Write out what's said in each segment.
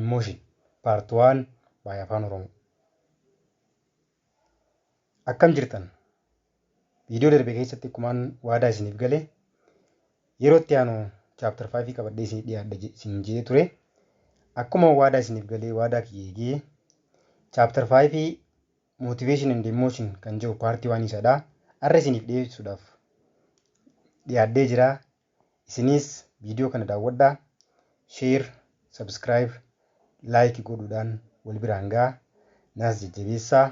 Emotion part one by afaan oromo akkam jirtan viidiyoo darbe keessatti akkumaan waadaa isiniif gale yeroo itti aanu chapter 5 qabadhee isinii dhiyaadha je- isin jedhee ture akkuma waadaa isiniif galee waadaa kiyya eegee chapter 5 motivation and emotion kan jedhu paartii waan isadha arra isiniif dhiyeessuudhaaf dhiyaadhee jira Isiniis viidiyoo kana daawwadhaa, sheer, sabskiraayib, laayiki godhuudhaan wal biraan ga'a, naas jajjabeessaa,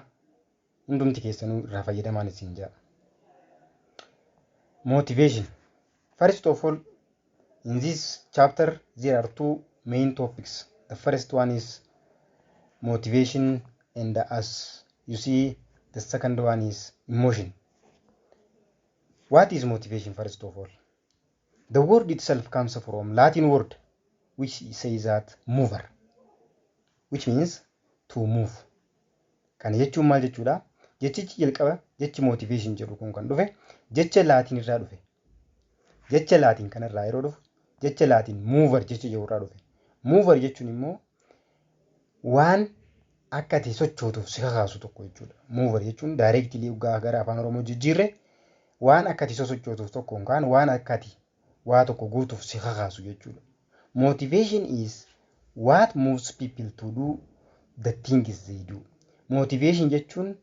hundumti keessanuu irraa fayyadamaan isin ja'a. Motivation. First of all, in this chapter there are two main topics. The first one is motivation and as you see the second one is emotion. What is motivation first of all? The word itself comes from Latin word which says that mover which means to move. Kana jechuun maal jechuudha? Jechichi jalqaba jechi motivation jedhu kun kan dhufe jecha Laatiin irraa dhufe. Jecha Laatiin kanarraa yeroo dhufu jecha Laatiin mover jecha jedhu irraa dhufe. Mover jechuun immoo waan akka ati sochootuuf si kakaasu tokko jechuudha. Muuvar jechuun daayireektilii dhugaa gara afaan Oromoo jijjiirre waan akka ati sosochootuuf tokko yookaan waan akka ati waa tokko gootuuf si kakaasu jechuudha. Motivation is what moves people to do the things they do. Motivation jechuun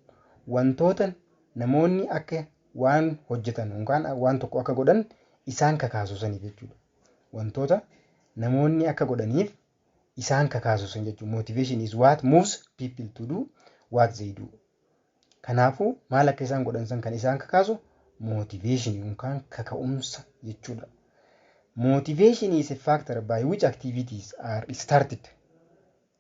wantoota namoonni akka waan hojjetan yookaan waan tokko akka godhan isaan kakaasu saniif jechuudha. Wantoota namoonni akka godhaniif isaan kakaasu sun jechuun motivation is what moves people to do what they do. Kanaafuu maal akka isaan godhan san kan isaan kakaasu motivation yookaan kaka'umsa jechuudha. Motivation is a factor by which activities are started,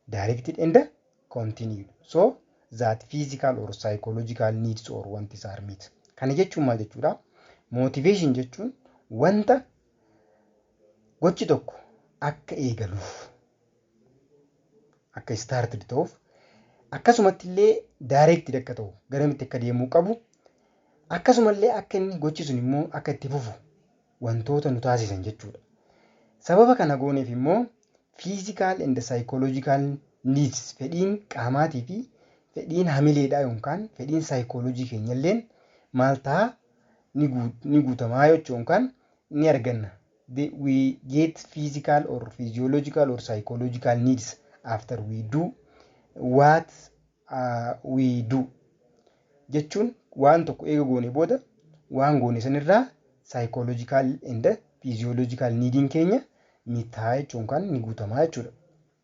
directed and continued so that physical or psychological needs or wants are met. Kana jechuun maal jechuudha? Motivation jechuun wanta gochi tokko akka eegaluuf akka istaartid ta'uuf akkasumatti illee daayireektid akka ta'u garamitti akka deemuu qabu akkasuma illee akka inni gochi sun immoo akka itti fufu wantoota nu taasisan jechuudha. Sababa kana gooneef immoo fiizikaal and saayikooloojikaal niids fedhiin qaamaatii fi fedhiin hamileedhaa yookaan fedhiin saayikooloojii keenya illeen maal ta'a ni guutamaa jechuun yookaan ni arganna. the we get physical or physiological or psychological needs after we do what uh, we do jechuun waan tokko eega goone booda waan goone sanirraa psychological and physiological needin keenya ni ta'a jechuun kan ni guutamaa jechuudha.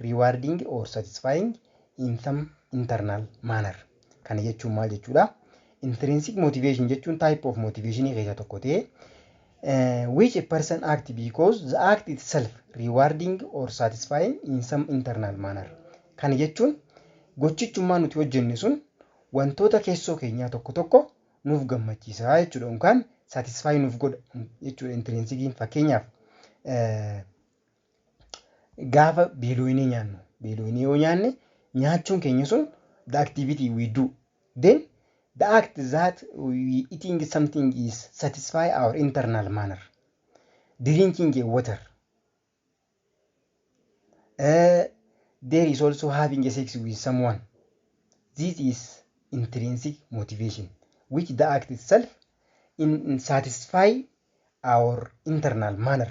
rewarding or satisfying in some internal manner. Kana jechuun maal jechuudha? Intrinsic motivation jechuun type of motivation keessa tokko ta'ee uh, which a person act because the act itself rewarding or satisfying in some internal manner. Kana jechuun gochichummaa nuti hojjenne sun wantoota keessoo keenyaa tokko tokko nuuf gammachiisa jechuudha yookaan satisfy nuuf godha jechuudha intrinsikiin fakkeenyaaf uh, Gaafa beelooyinee nyaannu, beelooyinee yoo nyaanne nyaachuun keenya sun the activity we do then the act that we eating something is satisfy our internal manner drinking a water uh, there is also having a sex with someone this is intrinsic motivation which the act itself in, in satisfy our internal manner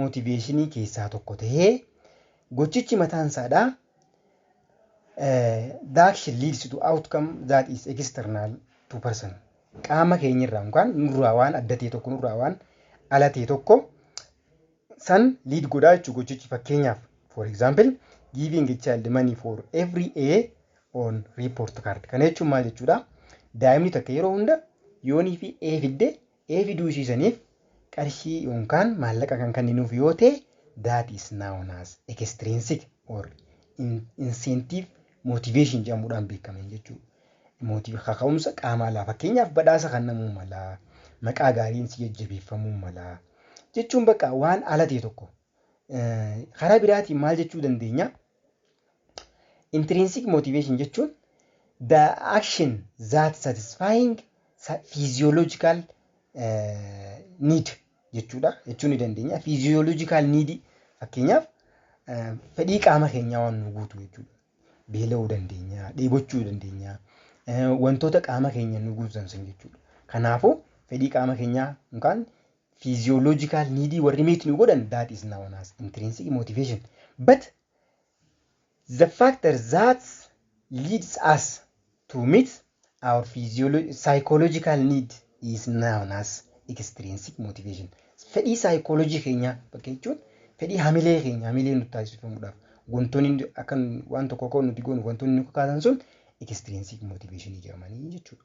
mootiveeshinii keessaa tokko ta'ee gochichi mataan isaadha the action leads to outcome that is external to person qaama keenyarraa yookaan nurraa waan adda ta'e tokko nurraa waan ala ta'e tokko san liid godhaa jechuudha gochichi fakkeenyaaf for example giving a child money for every A on report card kana jechuun maal jechuudha daa'imni takka yeroo hunda yoonii fi A fidde ee fiduu ishii saniif qarshii yoonkaan maallaqa kan kanninuuf yoo ta'e that is known as extrinsic or incentive motivation jedhamuudhaan beekkaman jechuu mootiif kaka'umsa qaama alaa fakkeenyaaf badhaasa kannamuu malaa maqaa gaariin si jajjabeeffamuu malaa jechuun bakka waan ala ta'e tokko Karaa biraatiin maal jechuu dandeenya? Intrinsic motivation jechuun the action that satisfying physiological need jechuudha jechuu ni dandeenya. Physiological need fakkeenyaaf fedhii qaama keenyaa waan nu guutu jechuudha. Beela'uu dandeenya, dheebochuu dandeenya, wantoota qaama keenya nu guutan san jechuudha. Kanaafuu fedhii qaama keenyaa yookaan physiological need warri meet nu godhan that is known as intrinsic motivation but the factor that leads us to meet our physiolo- psychological need is known as extrinsic motivation fedhii psychology keenyaa bakka jechuun fedhii hamilee keenya hamilee nutti taasifamuudhaaf wantoonni nu- akka nu- waan tokko akka nuti goonu wantoonni nu kakaasan sun extrinsic motivation jedhamanii jechuudha.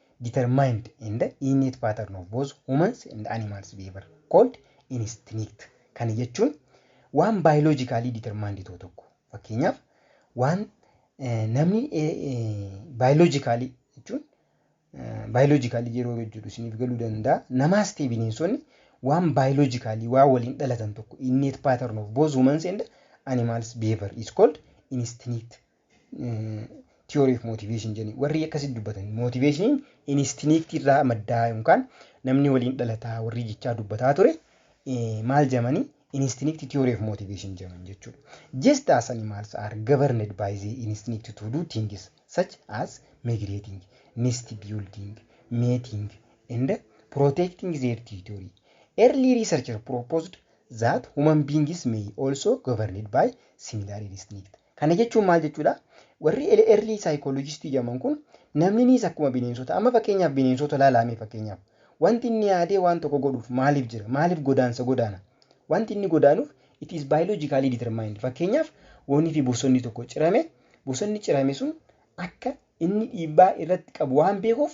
determined in the innate pattern of both humans and animals behavior called instinct. Kana jechuun waan biologically determined ta'u tokko fakkeenyaaf waan eh, namni eh, eh, biologically jechuun biologically yeroo jedhu isiniif galuu danda'a. Namaas ta'e bineensonni waan biologically waa waliin dhalatan tokko innate pattern of both humans and animals behavior is called instinct theory of motivation jedhanii warri akkasitti dubbatan motiveeshiniin inistiniiktii irraa maddaa yookaan namni waliin dhalataa warri jechaa dubbataa ture maal jedhamanii inistiniiktii theory of motivation jedhaman jechuudha. Just as animals are governed by the instinct to do things such as migrating, nest building, mating and protecting their territory. Early researchers proposed that human beings may also governed by similar instinct. Kana jechuun maal jechuudha? Warri ele- early psychologist jedhaman kun namninis akkuma bineensota amma fakkeenyaaf bineensota laalaa mee fakkeenyaaf wanti inni yaadee waan tokko godhuuf maaliif jira? Maaliif godaansa godaana? Wanti inni godaanuuf it is biologically determined. Fakkeenyaaf wonii fi bosonni tokko cirame bosonni cirame sun akka Inni dhiibbaa irratti qabu waan beekuuf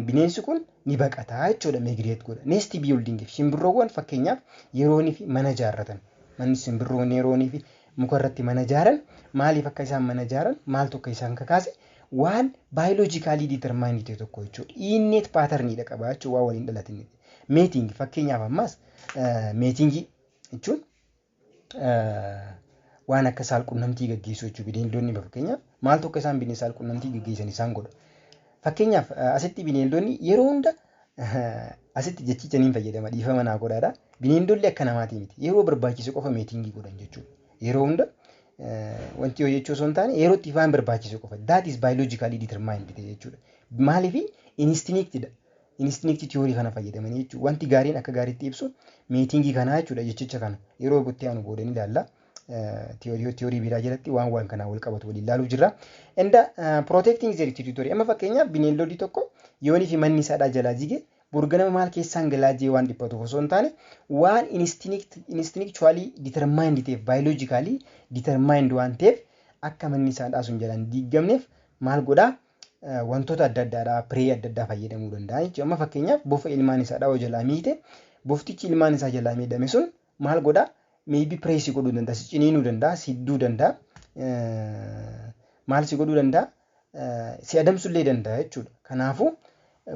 bineensi kun ni baqata jechuudha migrate godha. Nest building simbirroowwan fakkeenyaaf yeroonii fi mana ijaarratan. Manni simbirroon yeroonii fi muka irratti mana ijaaran maaliif akka isaan mana ijaaran maaltu akka isaan kakaase waan baayoloojikaalii determaayinii ta'e tokko jechuudha. Inneet paatarniidha qaba jechuudha waan waliin dhalatin. Meeting fakkeenyaaf ammaas meetingii jechuun waan akka saalqunnamtii gaggeessuu jechuudha. Bineeldonni fakkeenyaaf maaltu akka isaan bineensa saalqunnamtii gaggeessan isaan godha. Fakkeenyaaf asitti bineeldonni yeroo hunda asitti jechicha niin fayyadama dhiifama naa godhaadha. Bineeldonni akka namaatii miti. Yeroo barbaachise qofa meetiingii godhan jechuudha. Yeroo hunda wanti yoo jechuu osoo hin taane yeroo itti waan barbaachise qofa. That is biologically determined jechuudha. Maaliif instinctidha. Instinct theory kana fayyadamanii jechuudha. Wanti gaariin akka gaariitti ibsu miitiingii kanaa jechuudha jechicha kana. Yeroo itti aanu booda ni ilaalla. Theory theory biraa jalatti waan waan kanaa wal qabatu waliin ilaaluuf jirra. And uh, protecting their territory. Amma fakkeenyaaf bineeldodii tokko yoonii fi manni isaadhaa jalaa jige burganama maal keessaan galaa jee waan dhiphatuuf osoo hin taane waan instinct instinctually determined ta'eef biologically determined waan ta'eef akka manni isaadhaa sun jalaan diiggamneef maal godhaa wantoota adda addaadhaa piree adda addaa fayyadamuu danda'a jechuudha. Amma fakkeenyaaf bofa ilmaan isaa dhawoo jalaa miite boftichi ilmaan isaa jalaa miidhame sun maal godhaa meebii piree si godhuu danda'a si ciniinuu danda'a si hidduu danda'a maal si godhuu danda'a si adamsullee danda'a jechuudha. Kanaafuu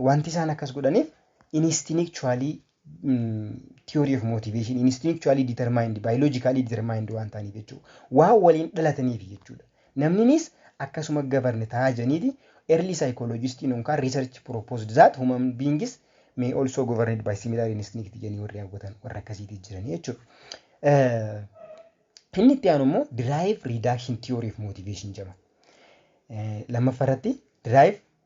wanti isaan akkas godhaniif inistinikchuwaalii theory of motivation instinctually determined biologically determined waan ta'aniif jechuudha. Waan waliin dhalataniif jechuudha. Namninis akkasuma govern ta'a jedhaniiti early psychologistiin yookaan research proposed that human beings may also governed by similar instinct jedhanii warri hawwatan warra akkasiitii jiran jechuudha. Inni itti aanu immoo drive reduction theory of motivation jedhama. Lammaffaa irratti drive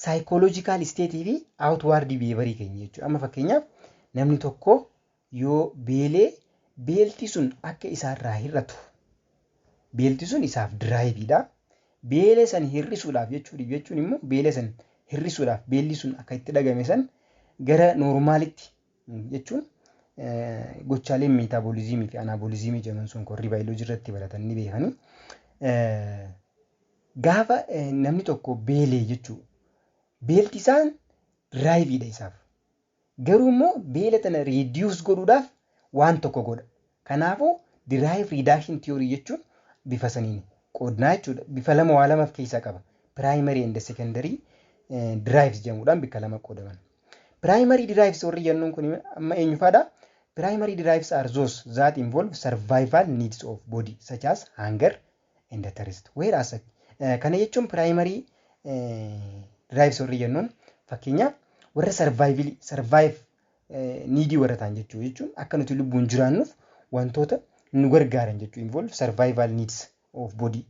Psychological state fi outward behavior keenya jechuudha. Amma fakkeenyaaf namni tokko yoo beelee beelti sun akka isaarraa hir'atu beelti sun isaaf diraayiviidha. Beelee san hir'isuudhaaf jechuudha jechuun immoo beelee san hir'isuudhaaf beelli sun akka itti dhagame san gara noormaalitti jechuun gochaaleen meetaaboliziimii fi anaaboliziimii jedhaman sun korrii baayoloojii irratti baratan ni beekanii. Gaafa namni tokko beelee jechuu beelti isaan diraayiviidha isaaf. Garuu immoo beela tana reediyoos godhuudhaaf waan tokko godha. Kanaafuu derive reduction theory jechuun bifa saniin qoodnaa jechuudha. Bifa lama waa lama of keessaa qaba. Primary and secondary derives jedhamuudhaan bikka lama qoodaman. Primary derives warri jennuun kun amma eenyufaadha? Primary derives are those that involve survival needs of body such as hunger and thirst. Whereas kana jechuun primary derives warri jennuun fakkeenyaaf warra survival survive niidii warra ta'an jechuu jechuun akka nuti lubbuun jiraannuuf wantoota nu gargaaran jechuu involve survival needs of body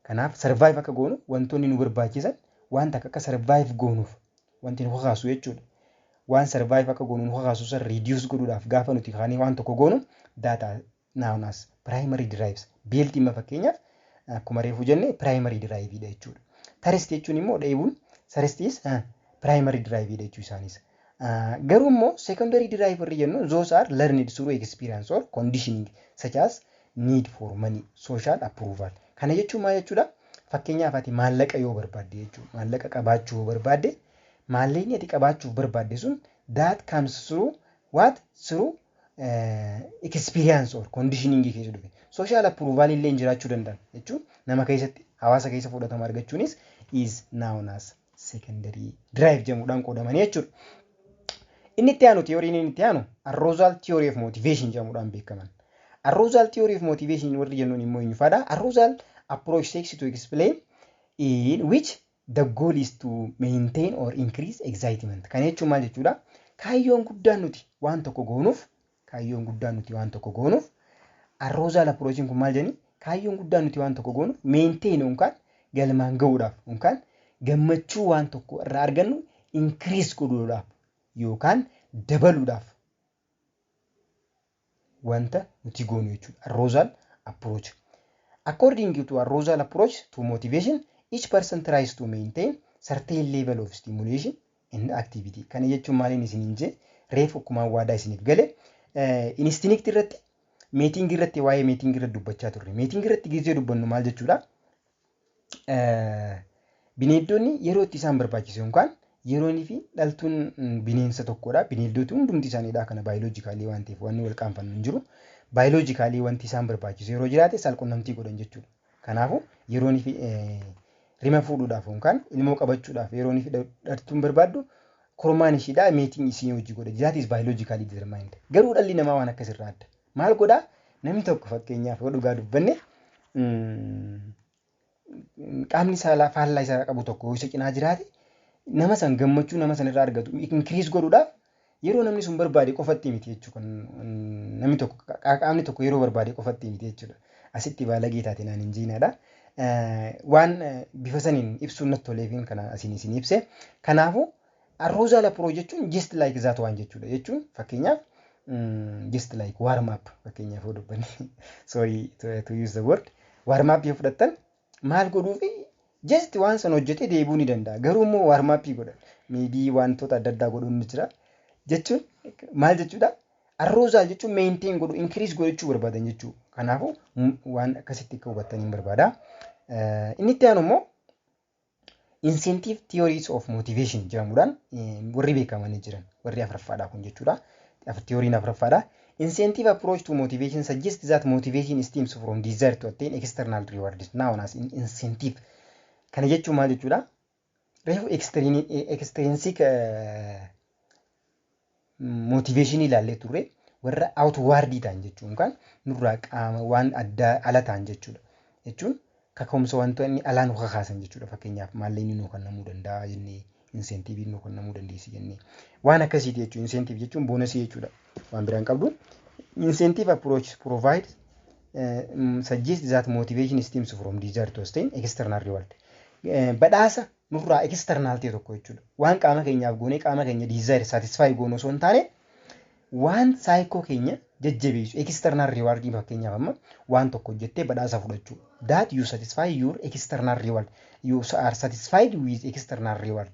kanaaf survive akka goonu wantoonni nu barbaachisan waan takka akka survive goonuuf wanti nu kakaasu jechuudha waan survive akka goonu nu kakaasu san reduce godhuudhaaf gaafa nuti kaanee waan tokko goonu data Noun as primary derives. Built imma fakkeenyaaf akkuma reefu jenne primary derive dha jechuudha. Thirst jechuun immoo dheebuun thirst is primary derive dha jechuu isaanis. Garuu immoo secondary derive warri jennu those are learned through experience or conditioning such as need for money, social approval. Kana jechuun maal jechuudha? Fakkeenyaaf ati maallaqa yoo barbaadde jechuudha. Maallaqa qabaachuu yoo barbaadde maallaqni ati qabaachuuf barbaadde sun that comes through what? Through experience or conditioning keessa dhufe social approval illee jiraachuu danda'an jechuun nama keessatti hawaasa keessa fudhatama argachuunis is known as secondary drive jedhamuudhaan qoodamanii jechuudha. Inni itti aanu tiyooriin inni itti aanu arousal theory of motivation jedhamuudhaan beekaman. Arousal theory of motivation warri jennuun immoo eenyufaadha? Arousal approach seeks to explain in which The goal is to maintain or increase excitement. Kana jechuun maal jechuudha? Kaayyoon guddaan nuti waan tokko goonuuf, kaayyoon guddaan nuti waan tokko goonuuf, arroozaal approachiin kun maal jedhani? Kaayyoon guddaan nuti waan tokko goonuuf maintain yookaan galmaan ga'uudhaaf yookaan gammachuu waan tokko irraa argannu increase godhuudhaaf yookaan dabaluudhaaf wanta nuti goonu jechuudha. Arousal approach. According to arousal approach to motivation, each person tries to maintain certain level of stimulation and activity. Kana jechuun maaliin isiniin jee reef akkumaan waadaa isiniif gale instinct irratti meeting irratti waa'ee meeting irratti dubbachaa turre. Meeting irratti gizee dubbannu maal jechuudha? Bineeldonni yeroo itti isaan barbaachisu yookaan yeroon fi dhaltuun bineensa tokkodha. Bineeldoti hundumti isaaniidha kana baayoloojikaalii waan ta'eef wanni wal qaanfannu hin jiru. Baayoloojikaalii wanti isaan barbaachisu yeroo jiraate saalqunnamtii godhan jechuudha. Kanaafuu yeroon fi rima fuudhuudhaaf yookaan ilmoo qabachuudhaaf yeroon fi dhaltuun barbaaddu kormaan ishiidha meetiin isii hojii godha. That is biologically determined. Garuu dhalli namaa waan akkasirraa adda. Maal godhaa namni tokko fakkeenyaaf yoo dhugaa dubbanne qaamni saalaa faallaa isaa qabu tokko yoo isa cinaa jiraate nama san gammachuu nama san irraa argatu inkiriis godhuudhaaf yeroo namni sun barbaade qofatti miti jechuudha. Namni tokko qaamni tokko yeroo barbaade qofatti miti jechuudha. Asitti baalagee taate naan hin jiinaadha. Waan bifa saniin ibsuun natti toleefiin kanaan asiin isin ibse. Kanaafuu Arroozaa laproo jechuun just like that waan jechuudha jechuun fakkeenyaaf just like warm up fakkeenyaaf yoo dubbanne sorry to use the word warm up yoo fudhattan maal godhuufi just waan san hojjetee deebi'uu ni danda'a garuu immoo warm up godhan maybe wantoota adda addaa godhuun ni jira jechuun maal jechuudha arroozaa jechuun maintain godhu increase godhachuu barbaadan jechuudha kanaafuu waan akkasitti akka hubattan hin barbaada inni itti aanu immoo Incentive theories of motivation jedhamuudhaan warri beekamanii jiran warri afuraffaadha kun jechuudha. Theoriin afuraffaadha. Incentive approach to motivation suggests that motivation stems from desire to attain external rewards known as in incentive. Kana jechuun maal jechuudha? Reefu extrinsic mootiveeshinii ilaallee turre warra outwardii ta'an jechuun kan nurraa qaama waan addaa ala ta'an jechuudha. Jechuun kaka'umsa wantoonni alaa nu kakaasan jechuudha. Fakkeenyaaf maallaqni nu kennamuu danda'a jennee inseentiiviin nu kennamuu dandeessi jennee waan akkasiiti jechuudha. Inseentiiv jechuun boonasii jechuudha. Waan biraan qabdu. Inseentiiv approach provide suggest that motivation stems from desire to sustain external reward. Badhaasa nurraa external ta'e tokko jechuudha. Waan qaama keenyaaf goonee qaama keenya desire satisfy goonu osoo hin taane waan saayikoo keenya jajjabeessu external reward fakkeenyaaf amma waan tokko hojjettee badhaasa fudhachuu that you satisfy your external reward you are satisfied with external reward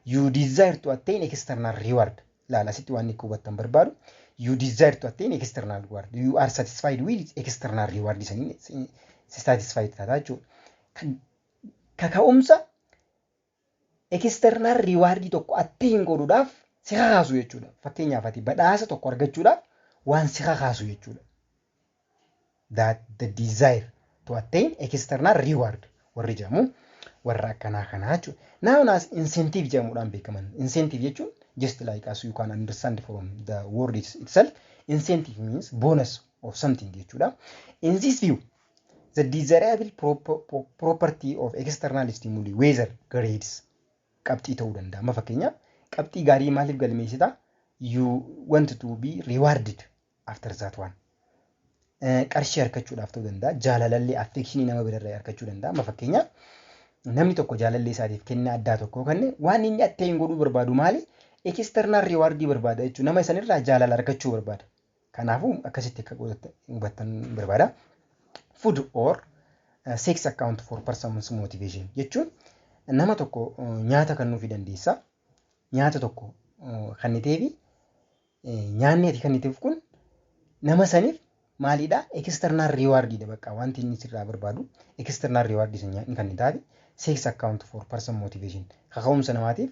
you desire to attain external reward laala asitti waan akka hubattan barbaadu you desire to attain external reward you are satisfied with external reward saniin satisfied taata jechuudha. kaka'umsa external reward tokko attain godhuudhaaf si kakaasu jechuudha. Fakkeenyaaf ati badhaasa tokko argachuudhaaf waan si kakaasu jechuudha. That the desire to attain external reward warri jedhamu warra akkanaa kanaa jechuudha. Now as incentive jedhamuudhaan beekaman. Incentive jechuun just like as you can understand from the word itself incentive means bonus of something jechuudha. In this view The desirable property of external stimuli weather grades qabxii ta'uu danda'a. Amma fakkeenyaaf qabxii gaarii maaliif galmeessita? You want to be rewarded after that one. Qarshii harkachuudhaaf ta'uu danda'a. Jaalalallee affeekshinii nama birarraa harkachuu danda'a. Amma fakkeenyaaf namni tokko jaalallee isaatiif kennaa addaa tokko kenne waan inni atteen godhuu barbaadu maali? External rewardii barbaada jechuudha. Nama isanirraa jaalala harkachuu barbaada. Kanaafuu akkasitti akka hubattan barbaada. Food or uh, sex account for person's motivation jechuun nama tokko uh, nyaata kennuufi dandeessa. Nyaata tokko uh, kenniteefi eh, nyaanni ati kenniteef kun nama saniif maalidha external reward dha bakka wanti inni sirraa barbaadu external reward isa nyaanni kennitaafi sex account for person motivation kaka'umsa namaatiif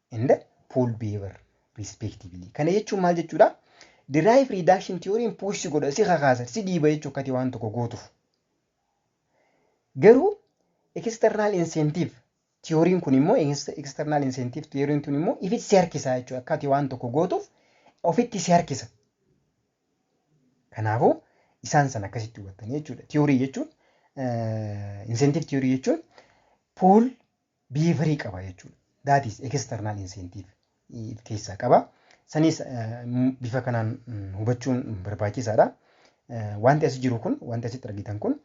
and pool behavior respectively. Kana jechuun maal jechuudha? Derive reduction theory push si godha, si kakaasa, si dhiiba jechuu akkati waan tokko gootuuf. Garuu external incentive theory kun immoo external incentive theory kun immoo ifitti si harkisa jechuudha. Akkati waan tokko gootuuf ofitti si harkisa. Kanaafuu isaan san akkasitti hubattanii jechuudha. Theory jechuun incentive theory jechuun pool biheevarii qaba jechuudha. That is external incentive if keessaa qaba. Sanis bifa kanaan hubachuun barbaachisaadha. Wanti asi jiru kun, wanti asitti argitan kun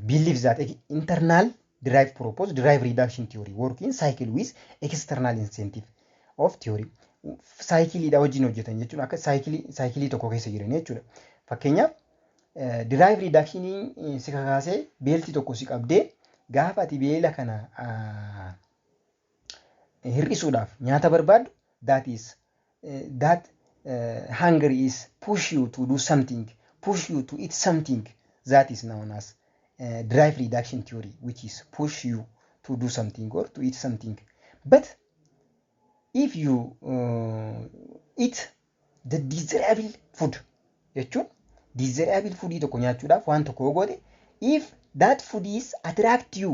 believe that internal derive propose derive reduction theory work in cycle with external incentive of theory. Saayikiliidha wajjin hojjetan jechuun akka saayikilii saayikilii tokko keessa jiran jechuudha. Fakkeenyaaf Diraayif riidaakshinii si kakaasee beelti tokko si qabdee gaafa ati beela kana hir'isuudhaaf nyaata barbaaddu that is that hunger is push you to do something push you to eat something that is known as uh, drive reduction theory which is push you to do something or to eat something but if you uh, eat The desirable food jechuun desirable foodii tokko nyaachuudhaaf waan tokko yoo goote if that food is attract you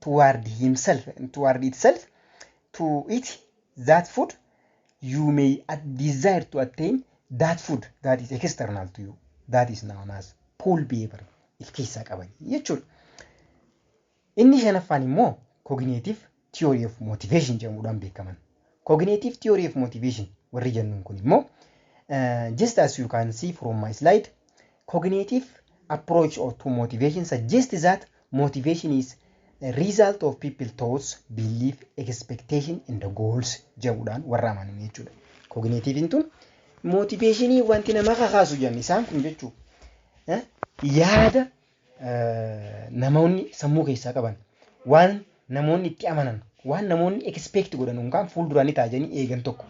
toward himself toward itself to eat that food you may at- desire to attain that food that is external to you that is known as pull behavior if keessaa qaban jechuudha. Inni shanaffaan immoo Cognitive Theory of Motivation jedhamuudhaan beekaman. Cognitive Theory of Motivation warri jennuun kun immoo just as you can see from my slide cognitive approach or to motivation suggests that motivation is a result of people thoughts, belief, expectation and goals jedhamuudhaan warra amanan jechuudha. Cognitive tun motivationii wanti nama kakaasu jenna isaan kun jechuudha. Yaada namoonni sammuu keessaa qaban waan namoonni itti amanan waan namoonni expect godhan yookaan fuulduraan ni taajanii eegan tokko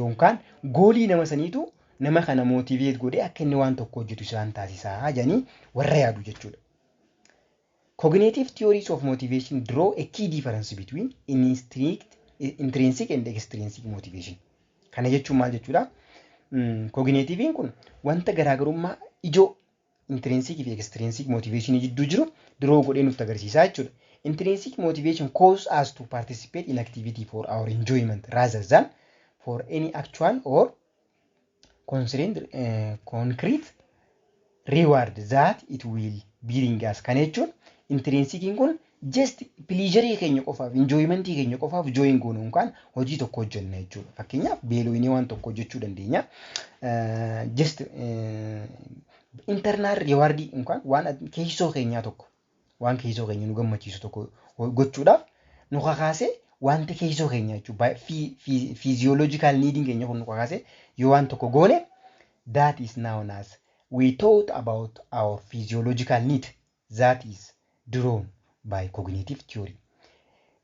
yookaan goolii nama saniitu nama kana motivate godhee akka inni waan tokko hojjetu isaan taasisaa jedhanii warra yaadu jechuudha. Cognitive theories of motivation draw a key difference between instinct, intrinsic and extrinsic motivation. Kana jechuun maal jechuudha? Kooginiitiiviin kun wanta garaagarummaa ijoo intrinsic fi extrinsic motivation jidduu jiru draw godhee nutti agarsiisaa jechuudha. Intrinsic motivation causes us to participate in activity for our enjoyment rather than for any actual or constrained, eh, concrete reward that it will bring us. Kana jechuun intrinsikiin kun Just pleasure keenya qofaaf, enjoyment keenya qofaaf join goonu yookaan hojii tokko hojjenna jechuudha. Fakkeenyaaf beelooyinee waan tokko hojjechuu dandeenya. Eh, Just eh, internal reward yookaan waan ad- keessoo keenyaa tokko waan keessoo keenya nu gammachiisu tokko ho- gochuudhaaf nu kakaasee wanti keessoo keenya jechuudha. Physiological needing keenya kun nu kakaasee yoo waan tokko goone that is known as we thought about our physiological need that is drawn by cognitive theory.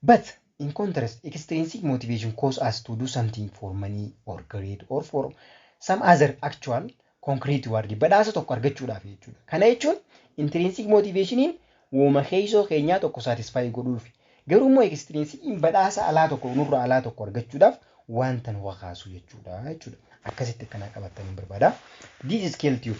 But in contrast, extrinsic motivation cause us to do something for money or greed or for some other actual concrete word badhaasa tokko argachuudhaaf jechuudha. Kana jechuun intrinsic motivationiin wooma keessoo keenyaa tokko satisfy godhuuf garuu immoo extrinsicin badhaasa alaa tokko nurra alaa tokko argachuudhaaf wanta nu kakaasu jechuudha jechuudha. Akkasitti akkanaa qabattaniin barbaada. This is scale tube.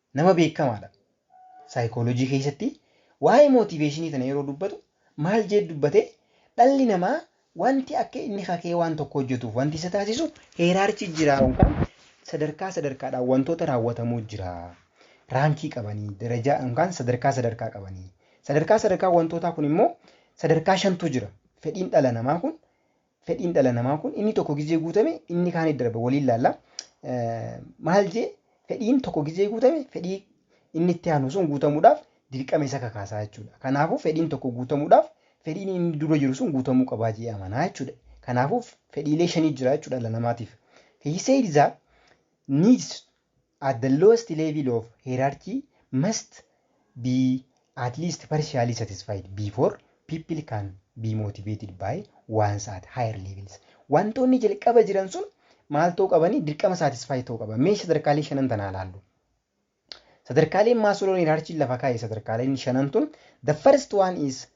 Nama beekkamaadha. Saayikooloojii keessatti waa'ee mootiiveeshinii tana yeroo dubbatu maal jeet dubbate dhalli namaa wanti akka inni kakee waan tokko hojjetuuf wanti isa taasisu heeraarchii jira yookaan sadarkaa sadarkaadhaan wantoota raawwatamuu jira. Raankii qabanii darajaa yookaan sadarkaa sadarkaa qabanii sadarkaa sadarkaa wantootaa kun immoo sadarkaa shantu jira. Fedhiin dhala namaa kun Fedhiin dhala namaa kun inni tokko gizee guutame inni kaanit darba waliin laalla. Maal jee fedhiin tokko gizee guutame fedhii inni itti aanu sun guutamuudhaaf dirqama isa kakaasaa jechuudha. Kanaafuu fedhiin tokko guutamuudhaaf fedhiin inni dura jiru sun guutamuu qabaa jee amanaa jechuudha. Kanaafuu fedhiilee shanii jira jechuudha dhala namaatiif. He said that needs At the lowest level of hierarchy must be at least partially satisfied before people can be motivated by ones at higher levels. Wantoonni jalqaba jiran sun maal ta'uu qabanii dirqama satisfy ta'uu qaba. Mee sadarkaalee shanan tanaa ilaallu. Sadarkaaleen Maasloon hierarchy lafa kaa'e sadarkaaleen shanan tun the first one is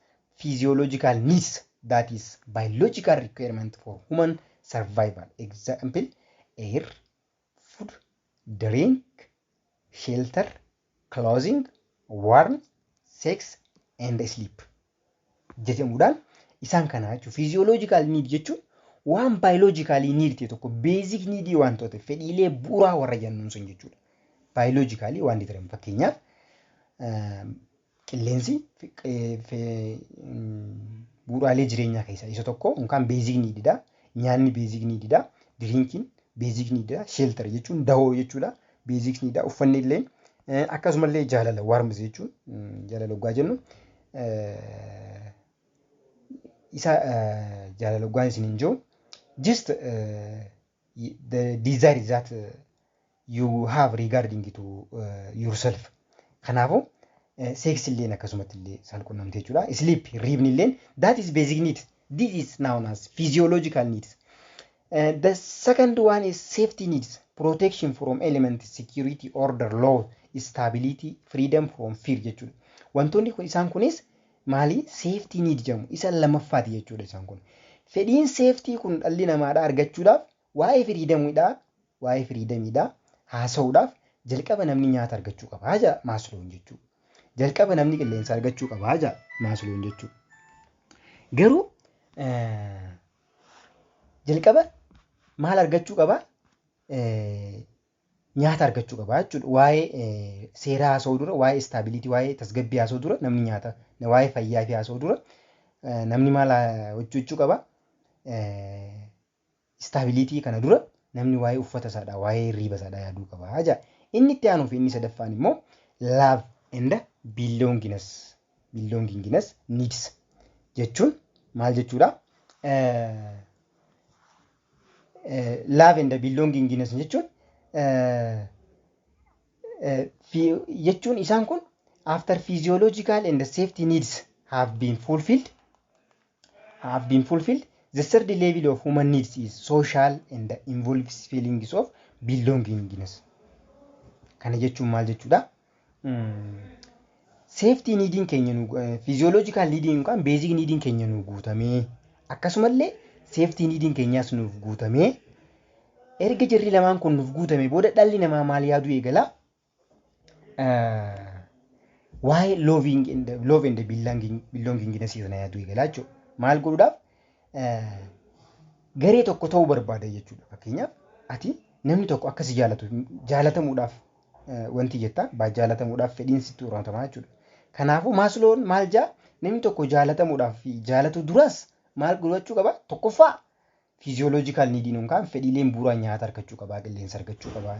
physiological needs that is biological requirement for human survival example air, food, drink, shelter, clothing, warmth, sex and sleep jedhamuudhaan isaan kanaa jechuudha. Physiological need jechuun waan biologically need ta'e tokko basic need wantoota fedhiilee bu'uuraa warra jennuun sun jechuudha. Biologically waan determine fakkeenyaaf Qilleensi bu'uuraalee jireenyaa keessaa isa tokko yookaan beezik niididha. Nyaanni beezik niididha. Diriinkiin beezik niididha. Sheeltar jechuun dahoo jechuudha. Beezik niididha. Uffanni illee akkasumallee jaalala waarmzi jechuun jaalala dhugaa jennu isa jaalala dhugaan isin hin jiru. Just the desire is that you have regarding to yourself. Kanaafu sex illeen akkasumatti illee saalqunnamtee jechuudha. Sleep riibni illeen that is basic need. This is known as physiological needs. Uh, the second one is safety needs, protection from elements, security, order, law, stability, freedom from fear jechuudha. Wantoonni kun isaan kunis maali safety need jedhamu isa lammaffaati jechuudha isaan kun. Fedhiin safety kun dhalli namaadha argachuudhaaf Waa'ee firiidamiidhaa, waa'ee firiidamiidhaa haasa'uudhaaf jalqaba namni nyaata argachuu qaba jedha Maasloon jechuu. Jalqaba namni qilleensa argachuu qaba jedha Maasloon jechuu. Garuu jalqaba maal argachuu qaba? Nyaata argachuu qaba jechuudha. Waa'ee seeraa haasa'uu dura, waa'ee istaabiliitii, waa'ee tasgabbii haasa'uu dura namni nyaata, waa'ee fayyaa fi haasa'uu dura namni maal hojjechuu qaba? Istaabiliitii kana dura namni waa'ee uffata isaadhaa, waa'ee hirriiba isaadhaa yaaduu qaba ja'a. Inni itti aanuu fi inni sadaffaan immoo love and belongingness, belongingness needs jechuun maal jechuudha? Love and belongingness jechuun jechuun isaan kun after physiological and safety needs have been fulfilled have been fulfilled, the third level of human needs is social and involves feelings of belongingness. Kana jechuun maal jechuudha? Seeftii niidiin keenya nu fiiziyooloojikaal niidiin yookaan beezik niidiin keenya nu guutamee akkasumallee seeftii niidiin keenyaas nuuf guutamee erga jarri lamaan kun nuuf guutame booda dhalli namaa maal yaaduu eegala? waa'ee loving and love and belonging belongingness sana yaaduu eegalaa jechuudha. Maal godhuudhaaf eh, garee tokko ta'uu barbaada jechuudha. Fakkeenyaaf ati namni tokko akka si jaalatu jaalatamuudhaaf eh, wanti jettaa baa jaalatamuudhaaf fedhiin sitti uumatamaa jechuudha. Kanaafuu maasloon maal jaa namni tokko jaalatamuudhaaf fi jaalatuu duraas maal godhachuu qaba? Tokkoffaa Physiological need nuun kaan fedhiileen buuraa nyaata argachuu qabaa, qilleensa argachuu qabaa,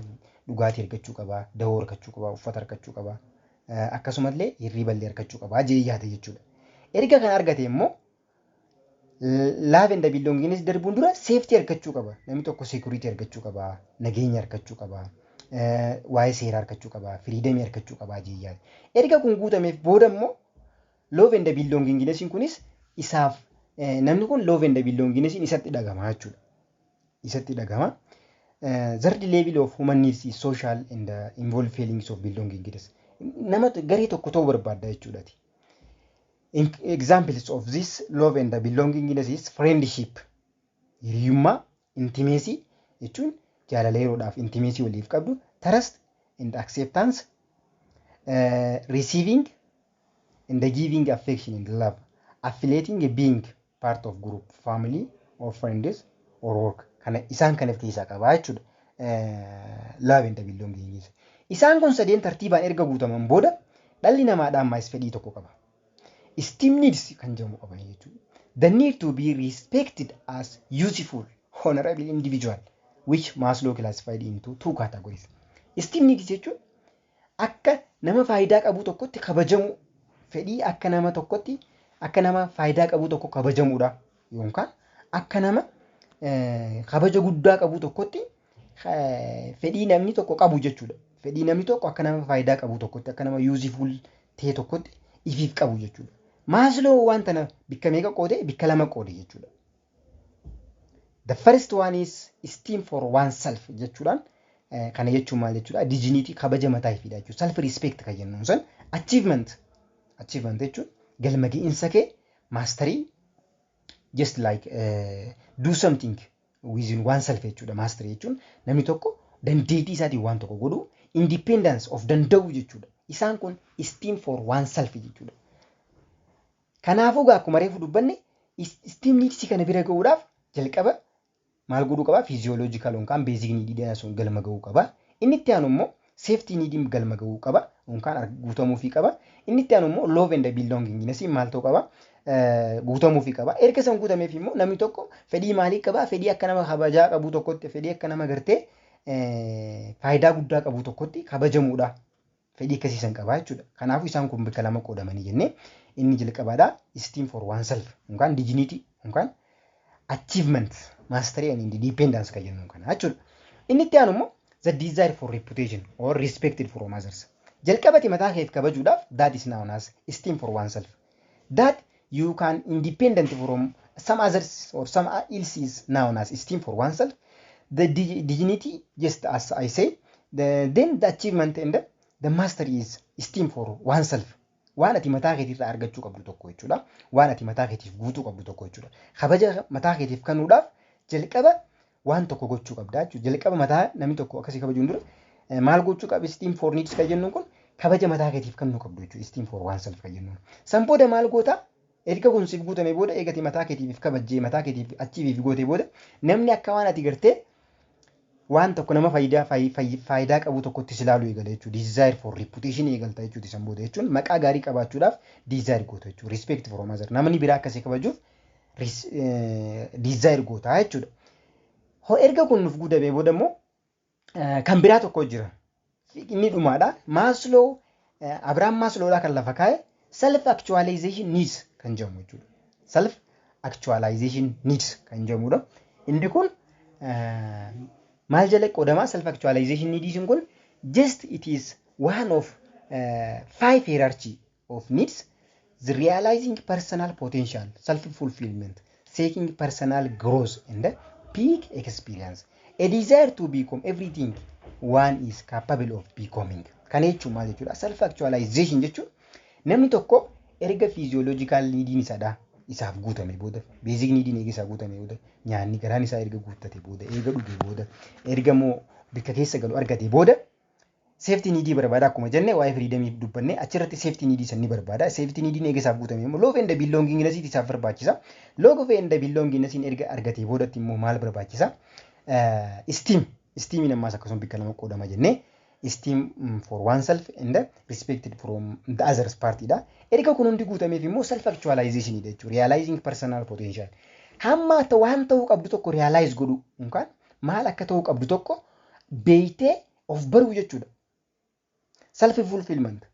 dhugaatii argachuu qabaa, dahoo argachuu qabaa, uffata argachuu qabaa, akkasumallee hirriiballee argachuu qabaa jee yaada jechuudha. Erga kana argate immoo love and belongingness darbuun dura safety argachuu qaba. Namni tokko security argachuu qaba, nageenya argachuu qaba, waa'ee seeraa argachuu qaba, freedom argachuu qaba jee yaada. Erga kun guutameef booda immoo Love and belongingness kunis isaaf namni kun love and belongingness isatti dhagama jechuudha. Isatti dhagama. Third level of human needs is social and involved feelings of belongingness. Nama garee tokko ta'uu barbaadda jechuudha. Examples of this love and belongingness is friendship. Hiriyummaa Intimeesii jechuun jaalala yeroodhaaf intimeesii waliif qabdu tarasti and acceptance receiving and giving affection and love affiliating being part of group family or friends or work kana isaan kan of keessaa qabaa jechuudha love and belonging isaan kun sadeen tartiibaan erga guutaman booda dhalli namaa dhaammaayis fedhii tokko qaba Esteem needs kan jedhamu qaba jechuudha. The need to be respected as useful, honorable individual which Maslow classified into two categories. Esteem needs jechuun akka nama faayidaa qabuu tokkotti kabajamuu fedhii akka nama tokkotti akka nama faayidaa qabuu tokko kabajamuudha. yookaan akka nama eh, kabaja guddaa qabu tokkotti eh, fedhii namni tokko qabu jechuudha. Fedhii namni tokko akka nama faayidaa qabu tokkotti akka nama yuuzifuul ta'e tokkotti ifiif qabu jechuudha. Maasloo waan tana bikka meeqa qoode bikka lama qoode jechuudha. The first one is esteem for oneself jechuudhaan eh, kana jechuun maal jechuudha dignity kabaja mataa ifiidha jechuudha. Self respect kan jennuun san achievement achievement jechuun galma ga'iinsa kee maastarii just like uh, do something within oneself jechuudha mastery jechuun namni tokko dandeettii isaatiin waan tokko godhu independence of danda'u jechuudha isaan kun esteem for oneself jechuudha kanaafuu gaa akkuma reefu dubbanne esteem needs kana bira ga'uudhaaf jalqaba maal godhuu qaba? Physiological yookaan basic need dha sun galma ga'uu qaba. Inni itti aanu immoo safety need galma ga'uu qaba yookaan guutamuufii qaba. Inni itti aanu immoo love and belongingness maal ta'uu qaba? Guutamuufii qaba. Erga san guutameef immoo namni tokko fedhii maalii qaba? Fedhii akka nama kabajaa qabuu tokkotti, fedhii akka nama gartee faayidaa guddaa qabuu tokkotti kabajamuudha. fedhii akkasii san qabaa jechuudha. Kanaafuu isaan kun bakka lama qoodamanii jennee inni jalqabaadha esteem for oneself yookaan dignity yookaan achievement mastery and independence kan jennu kana jechuudha. Inni itti aanu immoo the desire for reputation or respected from others. Jalqabati mataa keef kabajuudhaaf that is known as esteem for oneself. that you can independent from some others or some else is known as esteem for oneself, the dig- dignity, just as I say, the, then the achievement and the, the mastery is esteem for oneself. Waan ati mataa keetiirraa argachuu qabdu tokko jechuudha. Waan ati mataa keetiif guutuu qabdu tokko jechuudha. Kabaja mataa keetiif kanuudhaaf jalqaba waan tokko gochuu qabdaa jechuudha. Jalqaba mataa namni tokko akkasii kabajuun dura eh, maal gochuu qaba esteem for needs kan jennuun kun kabaja mataa keetiif kennuu qabdu jechuudha esteem for oneself kan jennuun. San booda maal goota erga kun siif guutamee booda eegate mataa keetiif kabajjee mataa keetiif achiiviif gootee booda namni akka waan ati gartee waan tokko nama faayidaa fayi- fayi- faayidaa qabu tokkotti si ilaaluu eegala jechuudha. Desire for reputation eegalta jechuudha san booda jechuun maqaa gaarii qabaachuudhaaf desire goota jechuudha. Respect for others. Namni biraa akka si kabajuuf diizaayir gootaa jechuudha. Hoo erga kun nuuf guutamee booda immoo kan biraa tokko jira. Inni dhumaadha. Maasloo Abiraam Maasloodhaa kan lafa kaa'e self actualization needs kan jedhamu jechuudha. Self actualization needs kan jedhamudha. Inni kun maal jala qoodama self actualization needs kun just it is one of five hierarchy of needs, the realizing personal potential, self fulfillment, seeking personal growth and peak experience. A desire to become everything one is capable of becoming. Kana jechuun maal jechuudha? Self actualization jechuun namni tokko erga fiiziyooloojikaal niidiin isaadhaa isaaf guutame booda beezik niidiin eega isaa guutame booda nyaanni garaan isaa erga guuttate booda eega dhuge booda erga immoo bakka keessa galu argate booda Safety need barbaada akkuma jenne waa'ee freedom dubbanne achirratti safety need san ni barbaada. Safety need eega isaaf guutame immoo love and belongingness isaaf barbaachisa. Love and belongingness erga argatee boodatti immoo maal barbaachisa? Esteem. Esteemiin ammaas akkasuma bakka lama qoodama jenne. Esteem for oneself and respected from the others party dha. Erga kun hundi guutameef immoo self actualization dha jechuudha. Realizing personal potential. Hamma waan ta'uu qabdu tokko realize godhu yookaan maal akka ta'uu qabdu tokko beeytee Of baruu jechuudha. Self fulfillment.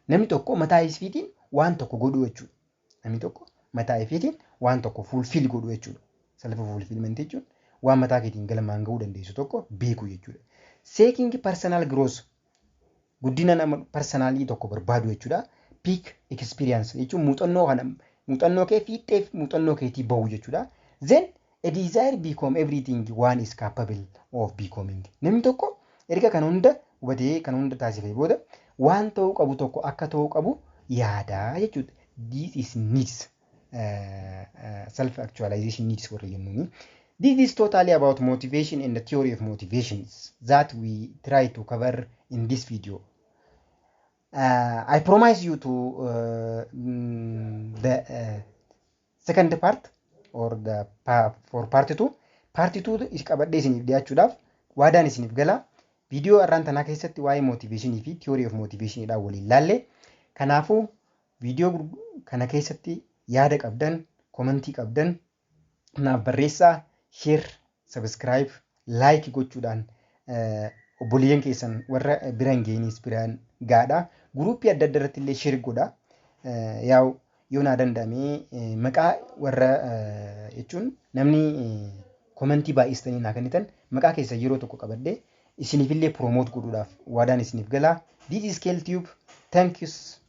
Namni tokko mataa isfiitiin waan tokko godhuu jechuudha. Namni tokko mataa isfiitiin waan tokko fulfill godhuu jechuudha. Self fulfillment jechuun waan mataa keetiin galmaan ga'uu dandeessu tokko beekuu jechuudha. Seeking personal growth. Guddina nama parsanaalii tokko barbaadu jechuudha. Peak experience jechuun muuxannoo kana muuxannoo kee fiixxee muuxannoo keetii bahu jechuudha. Then a desire become everything one is capable of becoming. Namni tokko erga kan hunda hubatee kan hunda taasifee booda waan ta'uu qabu tokko akka ta'uu qabu yaadaa jechuudha. This is needs. self actualization needs warri jennuuni. This is totally about motivation and the theory of motivations that we try to cover in this video. Uh, I promise you to uh, mm, the uh, second part or the pa for part 2 part 2 is qabadhee isiniif dhiyaachuudhaaf waadaan isiniif gala viidiyoo arraan tanaa keessatti waa'ee motiveeshinii fi theory of motiveeshinii dhaan waliin laalle kanaafuu Video kana keessatti yaada qabdan, komentii qabdan naaf barreessaa, share, subscribe, like gochuudhaan obboleeyyan keessan warra bira hin geeniis biraan gaadha. Guruuppii adda adda irratti illee share godha. Yaa'u yoo naa danda'amee maqaa warra jechuun namni komentii baay'istanii naa kennitan maqaa keessan yeroo tokko qabadhee isiniif illee promote godhuudhaaf waadaan isiniif galaa. This is Kel Tube. Thank you.